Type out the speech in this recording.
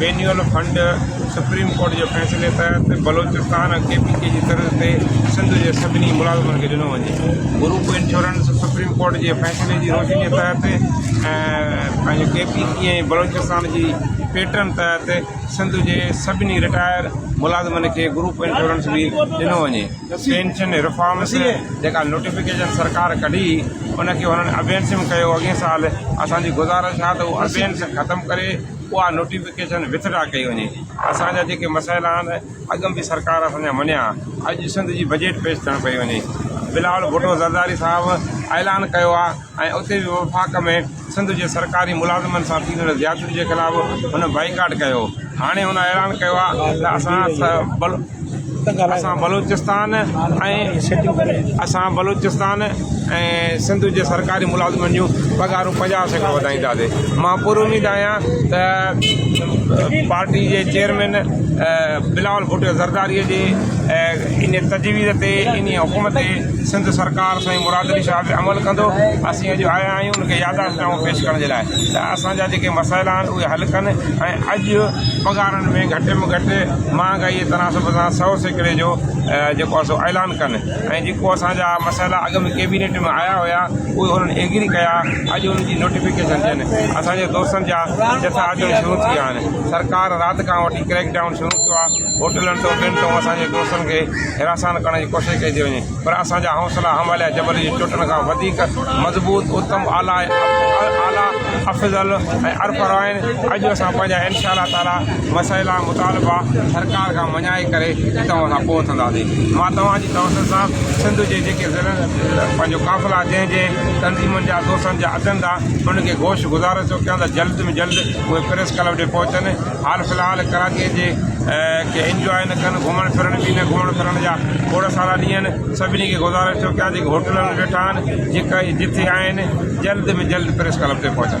وينيول fund supreme court جي فيصلي تحت بلوچستان ۽ ڪي پي ڪي جي طرز تي سنڌ جي سڀني ملازمن کي ڏنو وڃي گروپ انشورنس سپريم ڪورٽ جي فيصلي جي روشني تحت ۽ پنهنجو ڪي پي ڪي ۽ بلوچستان جي پيٽرن تحت سنڌ جي سڀني رٽائر ملازمن کي گروپ انشورنس به ڏنو وڃي پينشن رفارمس جيڪا نوٽيفڪيشن سرڪار ڪڍي ان کي هنن ابينسم ڪيو اڳئين سال اسان جي گذارش آهي ته هو ابينس ختم ڪري اها نوٽيفڪيشن وٿ ڊرا ڪئي وڃي اسان جا جيڪي مسئلا آهن اڳ به سرڪار اسان جا مڃيا اڄ سنڌ جي بجيٽ پيش ٿيڻ پئي وڃي بلاول ڀٽو زرداري صاحب اعلان ڪيو آهي ۽ اتي به وفاق ۾ سنڌ جي سرڪاري ملازمن سان ٿيندڙ زيادتي جي خلاف هن بائيڪاٽ ڪيو هاڻي هن اعلان ڪيو آهي ته اسان اسان بلوچستان ۽ اسان بلوچستان ۽ سنڌ جي سرڪاري ملازمن جون پگهارون پنجاهه سيڪڙو وڌائينداسي مان پر اميد آهيان ته پارٽي جي چيئرمين بلاول ڀٽو زرداري جي ان تجويز تي ان حڪم تي سنڌ سرڪار سائين مراد علي شاهه عمل ڪندو اسين اڄ آيا آهيون ان کي ياداشتنامو پيش ڪرڻ جي لاء ته اسان جا جيڪي مسائلا آهن اهي حل ڪن ۽ اڄ پگهارن ۾ گهٽ ۾ گهٽ مهانگائي جي تناسب سان سؤ سيڪڙي جو جيڪو آهي سو اعلان ڪن ۽ جيڪو اسان جا مسئلا اڳ ۾ ڪيبينيٽ ۾ آيا هيا اهي انهن ايگري ڪيا اڄ ان جي نوٽيفڪيشن ڏين اسان جي دوستن جا جٿا اچڻ شروع ٿي ويا آهن سرڪار رات کان وٺي ڪريڪ ڊائون شروع ڪيو آهي هوٽلن تون ٽن تون اسان جي دوستن کي حراسان ڪرڻ جي ڪوشش ڪئي ٿي وڃي پر اسان جا حوصلا هماليه جبل جي چوٽن کان وڌيڪ مضبوط، اتم اعليٰ ۽ اعليٰ افضل ۽ ارپر آهن. اڄ اسان پنهنجا ان شاء الله تعاليٰ مسئلا، مطالبا سرڪار کان مڃائي ڪري ئي توهان سان پهچنداسين. مان توهان جي توسل سان سنڌ جي جيڪي ضلعن پنهنجو قافلا جنهن جنهن تنظيمن جا دوستن جا اچن ٿا ان کي گوش گذار ٿو ڪيان ته جلد ۾ جلد اهي پريس ڪلب ڏي پهچن. حال في الحال ڪراچيء جي ڪي انجواء نه ڪن، گهمڻ ڦرڻ به نه، گهمڻ ڦرڻ جا کوڙ سارا ڏينهن سڀني کي گذارڻ ٿيو، ڪيا جيڪي هوٽلن ۾ ويٺا آهن، جيڪي جٿي آهن، جلد ۾ جلد پريس ڪلب تي پهچن.